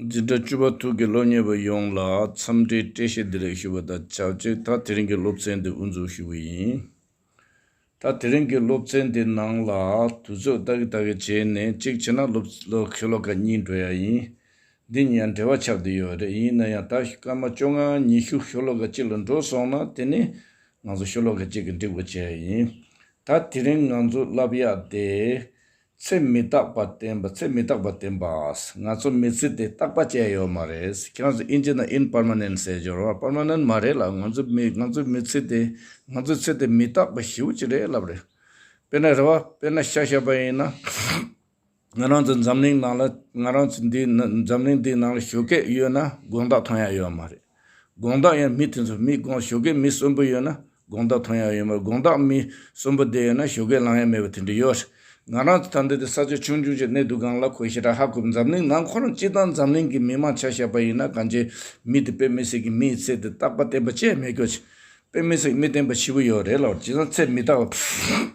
འཛིན་གྲྭ་བཅུ་པ་ཐུགས་ཀྱི་སློབ་གཉེར་བ་ཡོངས་ལ་འཚམས་འདྲིའི་བཀྲ་ཤིས་བདེ་ལེགས་ཞུ་བ་དང་ཆབས་ཅིག་ད་དེ་རིང་གི་སློབ་ཚན་འདི་དབུ་འཛུགས་ཞུ་བ་ཡིན། ད་དེ་རིང་གི་སློབ་ཚན་འདི་ནང་ལ་དུས་ཚོད་ལྟག་གི་ལྟག་གི་བྱས་ནས་གཅིག་བྱས་ན་སློབ་ཁྱོད་ལོ་ཀ་གཉིས་འགྲོ་ཡ་ཡིན། འདི་གཉིས་ཡང་འབྲེལ་བ་ཆགས་བསྡད་ཡོད་པ་རེད་ཡིན་ན་ཡང་ད་སྐར་མ་བཅོ་ལྔ་ཉི་ཤུ་ཤོ་ལོ་ཀ་གཅིག་ལ་འགྲོ་སོང་ན་དེ་ནི་ང་ཚོ་ཤོ་ལོ་ཀ་གཅིག་གི་འགྲིག་པ་བྱས་ཡ་ཡིན། ད་དེ་རིང་ང་ཚོ་བསླབ་ཡག་བསྡད། ཚེ་མི་རྟག་པ་བསྟན་པ་ཚེ་མི་རྟག་པ་བསྟན་པ། ང་ཚོ་མི་ཚེ་དེ་རྟག་པ་ཅན་ཡོད་མ་རེད། ཁྱེད་རང་ཚོ་ཨིན་ཇི་ན་ཨིན་པརྨནན་ཟེར་སྦྱོར་བ་པརྨནན་མ་རེད་ལ་ང་ཚོ་མི་ང་ཚོའི་མི་ཚེ་དེ་ང་ཚོའི་ཚེ་དེ་མི་རྟག་པ་ཞིའུ་ཅི་རེད་ལབ་རེད། དཔེར་ན་རེད་བ་དཔེར་ན་ཤ་ཤ་པ་ཡིན་ན། ང་རང་ཚོ་འཛམ་གླིང་ནང་ལ་ང་རང་ཚོ་འདི་འཛམ་གླིང་འདིའི་ནང་ལ་ཞོ་སྐད་ཡོད་ན་དགོངས་དག་ཐོན་ཡག་ཡོད་མ་རེད། དགོངས་དག་ཡང་མི་དེ་ཚོ་མི་དགོངས་ཞོ་གས་མི་གསོན་པོ་ཡོད་ན་དགོངས་དག་ཐོན་ཡག་ཡོད་མ་རེད་དགོངས་དག་མི་གསོན་པོ་དེ་ཡོད་ན་ཞོ་གས་ལང་ཡག་མེད་པ་དེ་འདྲ་ཡོད་རེད་ང་རང་ཚོ་ད་འདི་ལྟའི་ས་ཆ་ཆུང་ཆུང་ཆེ་གནས་སྡུག་སྒང་ལ་ཁོས་ཞེ་དྲག་ཧ་གོ་འཛམ་གླིང་ནང་ཁོ་རང་སྤྱི་དང་འཛམ་གླིང་གི་མི་མང་ཆ་ཤས་པ་ཡིན་ན་གང་བྱེད་མི་དེ་དཔེ་མི་སྲིད་ཀྱི་མི་ཡི་ཚེ་དེ་རྟག་པ་བསྟན་པ་བཅས་མེད་གྱོ་ཆེ་དཔེ་མི་སྲིད་མི་བསྟན་པ་ཕྱི་བོ་ཡོད་རེད་ལ་བྱས་ཙང་ཚེ་མི་རྟག་པ།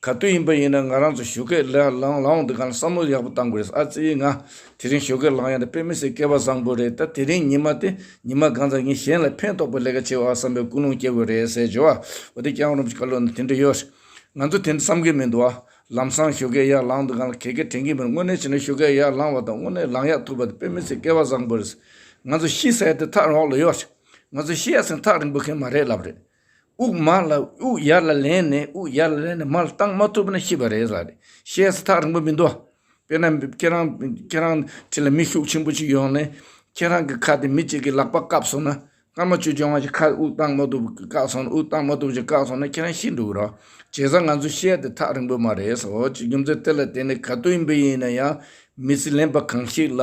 ག་དུས་ཡིན་པ་ཡིན་ན་ང་རང་ཚོ་བཞུགས་སྒར་ལའང་ལང་འོང་དུས་གང་བསམ་བློ་ཡག་པོ་བཏང་དགོས་རེད་ཨ་ཙི་ཡིས་ང་དེ་རིང་བཞུགས་སྒར་ལང་ཡ་དེ་དཔེ་མི་སྲིད་སྐལ་བ་བཟང་པོ་རེད་ད་དེ་རིང་ཉི་མ་དེ་ཉི་མ་གང་ཙམ་ཡིན་གཞན་ལ་ཕན་ཐོགས་པའི་ལས་ཀ་བྱེད་འོག་བསམ་པའི་ཀུན་སློང་སྐྱེ་དགོས་རེད་ཟེར་བྱས་བ་འོ་དེ་རྐྱང་རོམ་ཅིག་ཀ་ལོ་ན་དེ་འདྲ་ཡོད་རེད། ང་ཚོ་དེ་འདྲ་བསམ་གི་མི་འདུག་ཨ། ལམ་སང་བཞུགས་སྒར་ཡར་ལང་དུས་གང་ལ་གད་གས་དྲན་གྱི་མི་འདུག་དངོས་གནས་བྱས་ན་བཞུགས་སྒར་ཡར་ལང་བ་དང་དངོས་གནས་ལང་ཡག་ཐུབ་པ་དེ་དཔེ་མི་སྲིད་སྐལ་བ་བཟང་པོ་རེད། ང་ཚོ་ཤི་ཟེར་དེ་ཐག་རིང་འོག་ལ་ཡོད་རེད། ང་ཚོ་ཤི་ཡ་ཟིན་ཐག་རིང་པོ་མཁན་མ་རེད་ལབ་རེད། དབུགས་མར་ལ་དབུགས་ཡར་ལ་ལེན་ནས་དབུགས་ཡར་ལ་ལེན་ནས་མར་བཏང་མ་ཐུབ་ན་ཤི་བ་རེད་ཟ་རེད་བཤད་ས་ཐག་རིང་པོ་མི་འདུག་དཔེར་ན་ཁྱེད་རང་ཁྱེད་རང་ཁྲི་ལ་མི་ཤུགས་ཆེན་པོ་ཞིག་ཡོང་ནས་ཁྱེད་རང་གི་ཁ་དེ་མི་གཅིག་གི་ལག་པ་བཀབ་སོང་ན་སྔ་མོ་ཆུ་སྦྱོང་བ་ཞིག་ཁ་དབུགས་བཏང་མ་ཐུབ་བཀག་སོང་དབུགས་བཏང་མ་ཐུབ་ཅིག་བཀག་སོང་ན་ཁྱེད་རང་ཤི་འགྲོ་གི་རོགས་བྱས་ས་ང་ཚོས་བཤད་དེ་ཐག་རིང་པོ་མ་རེད་ཟོ་ཅིག་རྒྱུ་མཚན་དེ་ལ་བརྟེན་ནས་ག་དུས་ཡིན་པ་ཡིན་ན་ཡང་མི་སྲིད་ལེན་པ་གང་ཞིག་ལ་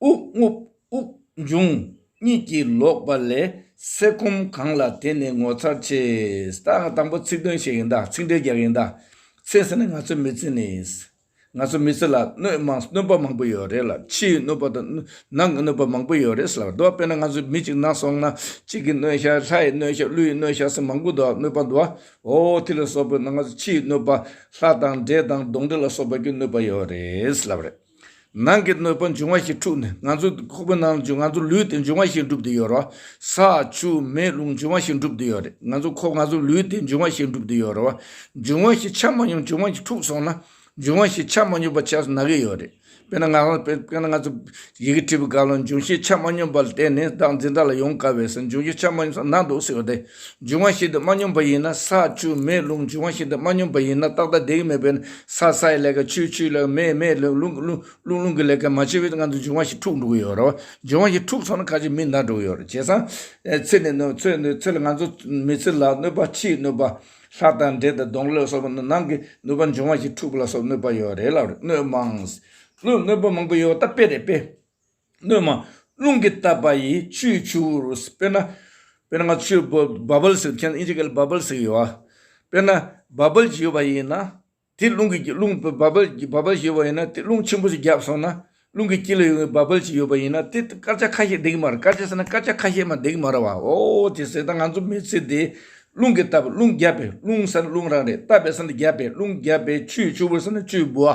དབུགས་རྔུབ་དབུགས་འབྱུང་གཉིད་ཀྱིས་ལོག་པ་ལས་ཟས་ཁོམ་གང་ལ་དེ་ནི་ངོ་མཚར་ཆེ། ད་ང་དང་པོ་ཚིག་དོན་བཤད་ཡིན་ད་ཚིག་འགྲེལ་རྒྱག་ཡིན་ད། ཚེ་ཟེར་ན་ང་ཚོའི་མི་ཚེ་ནི། ང་ཚོའི་མི་ཚེ་ལ་གནོད་མང་གནོད་པ་མང་པོ་ཡོད་རེད་ལ་ཕྱིའི་གནོད་པ་དང་ནང་གི་གནོད་པ་མང་པོ་ཡོད་རེད་ཟེར་ལ་འདུག་དཔེར་ན་ང་ཚོའི་མི་གཅིག་ན་སོང་ན་གཅིག་གི་གནོད་ཤ་ལྷའི་གནོད་ཤ་ཀླུའི་གནོད་ཤ་སོགས་མང་པོ་འདུག་གནོད་པ་འདུག་ཨོ་དེ་ལ་སོགས་པའི་ནང་ང་ཚོ་ཕྱིའི་གནོད་པ་ལྷ་དང་འདྲེ་དང་གདོན་འདྲེ་ལ་སོགས་པ་ཀྱི་གནོད་པ་ཡོད་རེད་ཟེར་ལབ་རེད། ནང་གི་གནོད་པ་འབྱུང་བ་ཞིག་འཁྲུགས་ནས་ང་ཚོ་ཁོག་པའི་ནང་དུ་ང་ཚོ་ལུས་དེ་འབྱུང་བ་ཞིག་འགྲུབ་དུ་ཡོད་རོ། ས་ཆུ་མེ་རླུང་འབྱུང་བ་ཞིག་འགྲུབ་དུ་ཡོད་རེད་ང་ཚོ་ཁོག་ང་ཚོ་ལུས་དེ་འབྱུང་བ་ཞིག་འགྲུབ་དུ་ཡོད་རོ། འབྱུང་བ་ཞིག་ཆགས་མ་མྱོང་འབྱུང་བ་ཞིག་འཁྲུགས་སོང་ན་འབྱུང་བ་ཞིག་ཆགས་མ་མྱོང་པ་ཆགས་སུ་ན་གི་ཡོད་རེད། དཔེར་ན་ང་རང་དཔེར་ན་ང་ཚོ་ཡི་གེ་བྲིས་པའི་སྐབས་ལ་འབྱུང་བཞི་ཆགས་མ་མྱོང་པ་ལ་བརྟེན་ནས་བདག་འཛིན་བདག་ལ་ཡོང་དཀའ་བས་སར་འབྱུང་བཞི་ཆགས་མ་མྱོང་ས་ན་འདུག་ཟེར་བ་དེ། འབྱུང་བ་ཞིག་ཏུ་མ་སྙོམས་པ་ཡིན་ན་ས་ཆུ་མེ་རླུང་འབྱུང་བ་ཞིག་ཏུ་མ་སྙོམས་པ་ཡིན་ན་རྟག་རྟག་བདེ་གི་མེད་པས་ན་ས་སའི་ལས་ཀ་ཆུའི་ཆུའི་ལས་ཀ་མེའི་མེའི་ལས་ཀ་རླུང་གི་རླུང་རླུང་རླུང་གི་ལས་ཀ་མ་བྱས་པའི་སྔ་དུ་འབྱུང་བ་ཞིག་འཁྲུགས་འགྲོ་གི་ཡོད་རེད་བ། འབྱུང་བ་ཞིག་འཁྲུགས་སོང་ན་ཁ་ཅིག་མི་འདར་འགྲོ་གི་ཡོད་རེད་བྱས་ཙང། ཚེ་ནི་གནོད་ཚེ་གནོད་ཚེ་ལ་ང་ཚོ་མི་ཚེ་ལ་གནོད་པ་ཕྱིའི་གནོད་པ། ལྷ་དང་འདྲེ་དང་གདོན་ལས་སོགས་པ་ནི་ནང་གི་གནོད་པ་འབྱུང་བ་ཞིག་འཁྲུགས་པ་ལ་སོགས་གནོད་པ་ཡོད་རེད་ལབ་རེད་གནོད་མང། གནོད་པ་མང་པོ་ཡོད་ད་དཔེ་རེད་དཔེ། སྣོད་མ། རླུང་གིས་བཏབ་པ་ཡི་ཆུའི་ཆུ་བོ་རུ། དཔེར་ན། དཔེར་ན་ང་ཚོ་ཆུའི Bubbles ཞིག་མཁྱེན་ཨིན་ཇི་སྐད་ལ Bubbles ཞིག་ཡོད། དཔེར་ན Bubble ཞིག་ཡོད་པ་ཡིན་ན། དེ་རླུང་གིས་རླུང Bubble Bubble ཞིག་ཡོད་པ་ཡིན་ན་དེ་རླུང་ཆེན་པོ་ཞིག་བརྒྱབ་སོང་ན། རླུང་གི་དཀྱིལ་ལ་ཡོད་པའི Bubble ཞིག་ཡོད་པ་ཡིན་ན་དེ་དཀར་ཆ་ཁ་ཤས་འདེགས་མ་རུང་དཀར་ཆ་ཟེར་ན་དཀར་ཆ་ཁ་ཤས་མ་འདེགས་མ་རུང་བ་འོ་དེ་ཟེར་ན་ང་ཚོ་མི་ཚེ་འདི། རླུང་གིས་བཏབ་རླུང་བརྒྱབ་པའི་རླུང་ཟེར་ན་རླུང་རང་རེད་བཏབ་པའི་ཟེར་ན་བརྒྱབ་པའི་རླུང་བརྒྱབ་པའི་ཆུའི་ཆུ་བོ་ཟེར་ན་ཆུའི་བུ།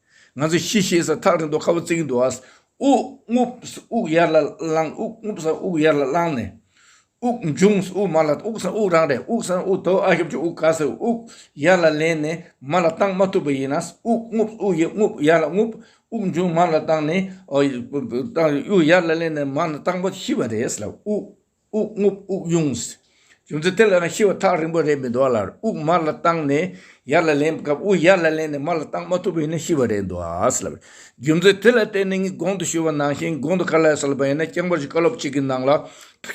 ང་ཚོས་ཤི་ཤེས་ས་ཐག་རིང་དུ་ཁ་བ་བརྩིག་གིན་འདུག་ཨཱ། དབུགས་རྔུབས་ས་དབུགས་ཡར་ལ་བླངས་དབུགས་རྔུབས་ས་དབུགས་ཡར་ལ་བླངས་ནས། དབུགས་འབྱུང་ས་དབུགས་མར་ལ་དབུགས་ས་དབུགས་རང་རེད་དབུགས་ས་དབུགས་དོ་ཨ་ཞབས་ཀྱི་དབུགས་ག་ས་དབུགས་ཡར་ལ་ལེན་ནས་མར་ལ་བཏང་མ་ཐུབ་པ་ཡིན་ན། དབུགས་རྔུབས་ས་དབུགས་རྔུབས་ཡར་ལ་རྔུབས་དབུགས་འབྱུང་མར་ལ་བཏང་ནས། དབུགས་ཡར་ལ་ལེན་ནས་མར་ལ་བཏང་པ་ཤི་བ་རེད་ལ་དབུགས། དབུགས་རྔུབ་དབུགས་དབྱུང། རྒྱུ་མཚན་དེ་ལ་ནི་ཤི་བ་ཐག་རིང་པོ་རེད་མི་འདུག་ལར་དབུགས་མར་ལ་བཏང་ནས་ཡར་ལ་ལེན་སྐབས་དབུགས་ཡར་ལ་ལེན་ནས་མར་ལ་བཏང་མ་ཐུབ་པ་ཡིན་ན་ཤི་བ་རེད་འདུག་ལ། རྒྱུ་མཚན་དེ་ལ་བརྟེན་ནས་ངས་གོང་དུ་ཞུས་པ་ནང་བཞིན་གོང་དུ་ག་ལེར་གསལ་བ་ཡིན་ན་རྐྱང་པར་གྱི་བཀའ་སློབ་གཅིག་གི་ནང་ལ་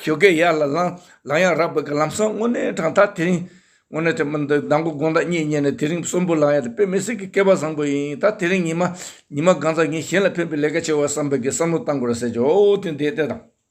ཞོ་སྐད་ཡར་ལ་བསླངས་ལ་ཡང་རག་བོད་ཀྱི་ལམ་སང་དངོས་གནས་དྲང་ཐག་དེ་རིང། དངོས་གནས་དེ་མིན་ད་མདང་དགོང་དགོང་ཟླ་གཉིས་ཉལ་ནས་དེ་རིང་གསོན་པོ་ལངས་ཡ་དེ་དཔེ་མི་སྲིད་ཀྱི་སྐལ་པ་བཟང་པོ་ཡིན་ད་དེ་རིང་ཉི་མ་ཉི་མ་སྒང་ཚ་ངས་གཞན་ལ་ཕན་པའི་ལས་ཀ་བྱེད་བར་བསམ་པའི་གི་བསམ་བློ་བཏང་དགོས་ར་ཟེར་གྱི་འོ་དེ་འདས་དེ་དང།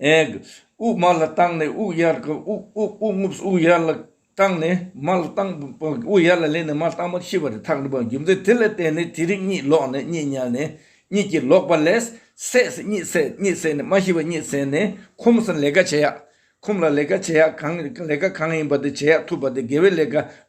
དབུགས་དམའ་ལ་བཏང་ནས་དབུགས་ཡལ་དབུགས་དབུགས་རྔུབས་དབུགས་ཡལ་ལ་བཏང་ནས་དམའ་ལ་བཏང་དབུགས་ཡལ་ལ་སླེབས་ནས་དམའ་ལ་བཏང་བར་ཤི་བ་རེ་ཐག་རིང་བའི་རྒྱུ་མཚན་དེ་ལ་བརྟེན་ནས་དེ་རིང་གཉིད་ལོག་ནས་གཉིད་ཉལ་ནས་གཉིད་ཀྱིས་ལོག་པ་ལས་སད་སེ་གཉིད་སད་གཉིད་སད་ནས་མ་ཤི་བ་གཉིད་སད་ནས་ཁོམ་སར་ལས་ཀ་བྱེད་ཡག་ཁོམ་ལ་ལས་ཀ་བྱེད་ཡག་གང་ལས་ཀ་གང་ཡིན་པ་དེ་བྱེད་ཡག་ཐུབ་པ་དེ་དགེ་བའི་ལས་ཀ་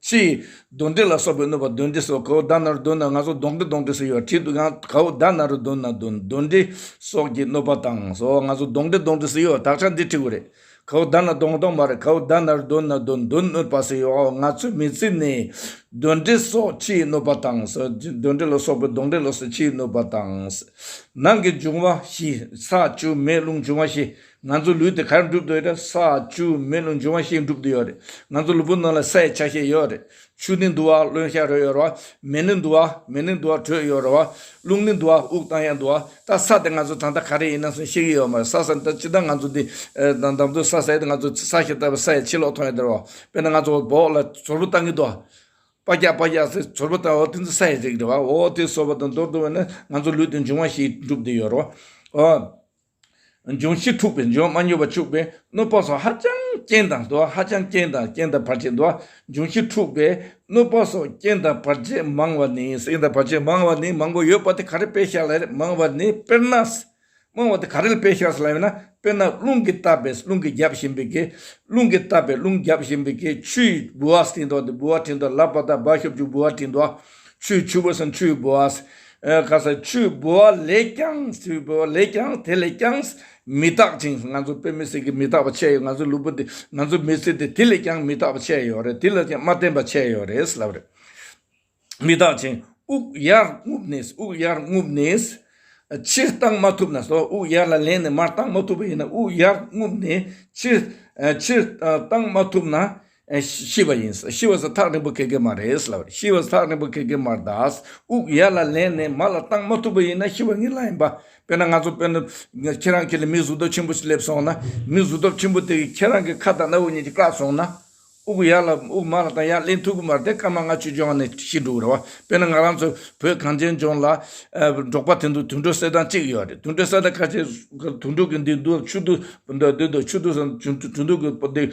ཅི། གདོན་འདྲེ་ལ་སོགས་པའི་གནོད་པ་གདོན་འདྲེ་སོགས་གའུ་བདག་ནཱ་རོ་གདོན་ནཱ་ང་སོགས་གདོན་གྱི་གདོན་འདྲེ་སུ་ཡོད་དྲིས་འདུག་ཡང་གའུ་བདག་ནཱ་རོ་གདོན་ནཱ་གདོན་འདྲེ་སོགས་ཀྱི་གནོད་པ་དང་སོགས་ང་སོགས་གདོན་གྱི་གདོན་འདྲེ་སུ་ཡོད་དག་ཆ་འདི་འཁྲི་གུ་རེད། གའུ་བདག་ནཱ་གདོན་གདོན་མ་རེད་གའུ་བདག་ནཱ་རོ་གདོན་ནཱ་གདོན་གདོན་གནོད་པ་སུ་ཡོད་ང་ཚོའི་མི་ཚེ་ནི། གདོན་འདྲེ་སོགས་ཕྱིའི་གནོད་པ་དང་སོགས་གདོན་འདྲེ་ལ་སོགས་པའི་གདོན་འདྲེ་ལ་སོགས་ཕྱིའི་གནོད་པ་དང། ནང་གི་འབྱུང་བ་བཞི་ས་ཆུ་མེ་རླུང་འབྱུང་བ་བཞི་ང་ཚོའི་ལུས་དེ་གར་འགྲུབ་འདོད་ཡོད་དྲ་ས་ཆུ་མེ་རླུང་འབྱུང་བ་ཞིག་འགྲུབ་འདོད་ཡོད་རེད་ང་ཚོ་ལུས་པོ་ནང་ལ་སའི་ཆ་ཤས་ཡོད་རེད་ཆུ་ནི་འདུ་བ་རླུང་ཤ་རོལ་ཡོད་རེད་བ་མེ་ནི་འདུ་བ་མེ་ནི་འདུ་བ་དྲོད་ཡོད་རེད་བ་རླུང་ནི་འདུ་བ་དབུགས་གཏང་ཡང་འདུ་བ་ད་ས་དེ་ང་ཚོ་གྲང་ད་ག་རེ་ཡིན་ན་སོང་ཤེས་ཀྱི་ཡོད་མ་རེད་ས་ས་ད་ཅི་ད་ང་ཚོ་འདི་ད་འདམ་དུ་ས་ས་ཡོད་དེ་ང་ཚོ་ས་ཞེས་བཏགས་པའི་ས་ཡི་ཕྱི་ལོགས་མཐོང་ཡོད་དེ་རེད་བ་དཔེར་ན་ང་ཚོ་བོགས་ལ་ཟོར་བུ་བཏང་གི་འདུག་བ་པ་རྒྱག་པ་རྒྱག་ཚེ་ཟོར་བུ་བཏང་བ་དེ་ཚོ་ས་ཡི་རིགས་རེད་བ་འོ་དེ་ཟོར་བ་དང་འདོར་འདོར་བས་ན་ང་ཚོ་ལུས་དེ་འབྱུང་བ་ཞིག་འགྲུབ་འདོད་ཡོད་རེད་བ། འབྱུང་བཞི་འཁྲུགས་པས་འབྱུང་མ་མྱོས་པ་ཕྱུག་པས་གནོད་པོག་སོགས་ཧ་ཅང་རྐྱེན་དང་དུ་བ་ཧ་ཅང་རྐྱེན་དང་རྐྱེན་དང་བར་ཆད་འདུ་བ་འབྱུང་བཞི་འཁྲུགས་པས་གནོད་པོག་སོགས་རྐྱེན་དང་བར་ཆད་མང་བ་ནི། རྐྱེན་དང་བར་ཆད་མང་བ་ནི་མང་པོ་ཡོད་པ་དེ་ག་རེ་དཔེ་ཤར་ལ་ཡོད་མང་བ་ནི་དཔེར་ན། མང་བ་དེ་ག་རེ་ལ་དཔེ་ཤར་ལ་ཡོད་ན་དཔེར་ན་རླུང་གིས་བཏབ་པས་རླུང་གིས་རྒྱབ་བཞིན་པའི་གེགས་རླུང་གིས་བཏབ་པས་རླུང་རྒྱབ་བཞིན་པའི་གེགས་ཆུས་ལྦུ་བ་བསྲིངས་དོགས་ཏེ་ལྦུ་བ་བྲིན་དོགས་ལབ་པ་དང་སྦ་ཤོབ་ཅུག་ལྦུ་བ་བྲིན་དོགས། ཆུའི་ཆུ་བོ་བསམ་ཆུའི་བུ་ཨ། ཁ་ས་ཆུའི་བུ་ཨ་ལས་ཀྱང་ཆུའི་བུ་ཨ་ལས་ཀྱང་དེ་ལས་ཀྱང་མི་རྟག་ཅིང་ང་ཚོ་བོད་མི་སེར་གྱི་མི་རྟག་པ་ཆད་ཡོད་ང་ཚོ་ལུག་པོ་འདི་ང་ཚོ་མི་སེར་འདི་དེ་ལས་ཀྱང་མི་རྟག་པ་ཆད་ཡོད་རེད་དེ་ལས་ཀྱང་མ་བརྟན་པ་ཆད་ཡོད་རེད་ལབ་རེད། མི་རྟག་ཅིང་དབུགས་ཡར་རྔུབ་ནས་དབུགས་ཡར་རྔུབ་ནས། ཕྱིར་བཏང་མ་ཐུབ་ན་སོ་དབུགས་ཡར་ལ་ལེན་ནས་མར་བཏང་མ་ཐུབ་པ་ཡིན་ན་དབུགས་ཡར་རྔུབ་ནས་ཕྱིར། ཕྱིར་བཏང་མ་ཐུབ་ན་ཤི་བ་ཡིན། ཤི་བ་སོགས་ཐག་རིང་པོ་འཁེལ་གི་མ་རེད། ཤི་བ་ཐག་རིང་པོ་འཁེལ་གི་མ་རེད། དབུགས་ཡར་ལ་ལེན་ནས་མར་ལ་བཏང་མ་ཐུབ་པ་ཡིན་ན་ཤི་བ་ངེས་ལ་ཡིན་པ། དཔེར་ན་ང་ཚོ་དཔོན་ནི་ཁྱེད་རང་གི་ལ་མིག་གཟུགས་སྟོབས་ཆེན་པོ་ཞིག་སླེབས་སོང་ན། མིག་གཟུགས་སྟོབས་ཆེན་པོ་དེ་གིས་ཁྱེད་རང་གི་ཁ་དང་སྣ་བུག་གཉིས་ཀྱིས་བཀག་སོང་ན། དབུགས་ཡར་ལ་དབུགས་མར་ལ་བཏང་ཡར་ལེན་ཐུབ་གི་མ་རེད་དེ་སྐར་མ་ལྔ་ཆུ་ལྗོངས་ནས་ཤི་འགྲོ་གི་རེད་བ། དཔེར་ན་ང་རང་ཚོ་བོད་གངས་ཅན་ལྗོངས་ལ། འབྲོག་པ་དེ་ཚོ་དུད་འགྲོ་གསེར་ཐང་གཅིག་ཡོད་རེད་དུད་འགྲོ་གསེར་ཐང་ཁ་ཤས་དུད་འགྲོ་གི་འདི་འདུག་ཆུ་འདུག་འདི་འདུག་ཆུ་འདུག་ཆུ་འདུག་གི་འདི།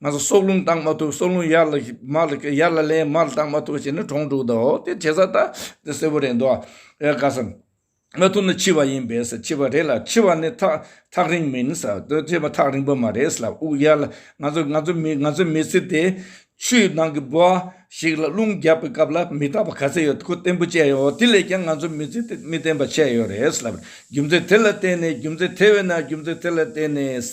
ང་ཚོ་སྲོག་རླུང་བཏང་མ་ཐུབ་སྲོག་རླུང་ཡར་ལ་ཡར་ལ་ལན་མར་བཏང་མ་ཐུབ་བྱས་ན་གྲོང་དཀྲུགས་འདའོ་དེ་བྱེད་ས་ད་དེ་གསལ་པོ་རེད་འདུག་ཨ་དགའ་ས། མ་ཐུབ་ན་འཆི་བ་ཡིན་པས་ཟེར་འཆི་བ་རེད་ལ་འཆི་བ་ནི་ཐག་ཐག་རིང་མིན་ཟེར་དེ་འཆི་བ་ཐག་རིང་པོ་མ་རེད་ཟེར་ལ་དབུགས་ཡར་ལ་ང་ཚོ་ང་ཚོ་མི་ང་ཚོ་མི་ཚེ་དེ་ཆུའི་ནང་གི་འབུ་ཞིག་ལ་རླུང་བརྒྱབ་པའི་སྐབས་ལ་མི་རྟག་པ་ག་ཚད་ཡོད་ཁུ་བརྟན་པོ་བཅད་ཡོད་དེ་ལས་ཀྱང་ང་ཚོ་མི་ཚེ་དེ་མི་བརྟན་པ་ཆད་ཡོད་རེད་ཟེར་ལ་རྒྱུ་མཚན་དེ་ལ་བརྟེན་ནས་རྒྱུ་མཚན་དེ་བས་ན་རྒྱུ་མཚན་དེ་ལ་བརྟེན་ནས།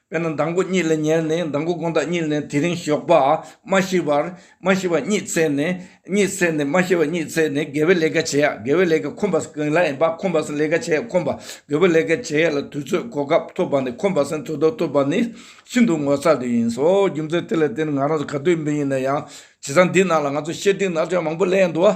དཔེར་ན་མདང་དགུ་གཉིད་ལས་ཉལ་ནས་མདང་དགུ་དགོངས་དག་གཉིད་ལས་དེ་རིང་ཞོགས་པ་མ་ཤི་བར་མ་ཤི་བ་གཉིད་ཚད་ནས་གཉིད་ཚད་ནས་མ་ཤི་བ་གཉིད་ཚད་ནས་དགེ་བའི་ལས་ཀ་བྱེད་ཡ་དགེ་བའི་ལས་ཀ་ཁོམ་པ་གང་ལ་ཡིན་པ་ཁོམ་པ་སེང་ལས་ཀ་བྱེད་ཡ་ཁོམ་པ་དགེ་བའི་ལས་ཀ་བྱེད་ཡ་ལ་དུས་ཚོད་གོ་སྐབས་ཐོབ་པ་ནི་ཁོམ་པ་སེང་འཚོ་དོགས་ཐུབ་པ་ནི་ཤིན་ཏུ་ངོ་ཚ་དུས་ཡིན་སོ་རྒྱུ་མཚན་དེ་ལ་བརྟེན་ང་རང་ག་དུས་ཡིན་པ་ཡིན་ན་ཡང་བྱེ་ཐང་འདིའི་ནང་ལ་ང་ཚོ་ཤེས་ལྡན་ནག་ཆུང་མང་པོ་སླེ་ཡ་འདུག་ཨ།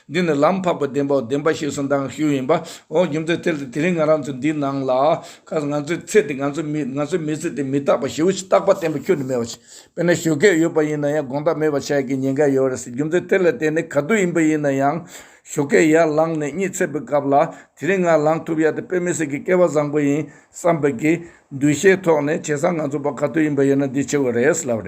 འདི་ནི་ལམ་འཕགས་པའི་བདེན་པའོ་བདེན་པ་ཞེས་སུ་འདང་གི་ཤུལ་ཡིན་པ་འོ་རྒྱུ་མཚན་དེ་ལྟ་དེ་རིང་ང་རང་ཚོ་འདིའི་ནང་ལ་ཁ་ང་ཚོའི་ཚེ་འདི་ང་ཚོའི་མི་ང་ཚོའི་མི་ཚེ་འདི་མི་རྟག་པ་ཞེའུ་ཞིག་རྟག་པ་བརྟན་པོ་ཁྱོན་ནས་མེད་པ་ཞིག་དཔེར་ན་ཞོ་ཁལ་ཡོད་པ་ཡིན་ན་ཡང་དགོངས་དག་མེད་པ་ཆགས་ཀྱི་ཉེན་ཁ་ཡོད་རེད་ཟེར་རྒྱུ་མཚན་དེ་ལ་བརྟེན་ནས་ག་དུས་ཡིན་པ་ཡིན་ན་ཡང་ཞོ་ཁལ་ཡར་ལངས་ནས་གཉིད་ཚད་པའི་སྐབས་ལ་དེ་རིང་ང་ལངས་ཐུབ་ཡ་དེ་དཔེ་མི་སྲིད་ཀྱི་སྐལ་བ་བཟང་པོ་ཡིན་བསམ་པའི་གི་འདུ་ཤེས་ཐོག་ནས་བྱས་ཙང་ང་ཚོ་བ་ག་དུས་ཡིན་པ་ཡིན་ན་འདི་ཆེ་བ་རེད་ལབ་རེད།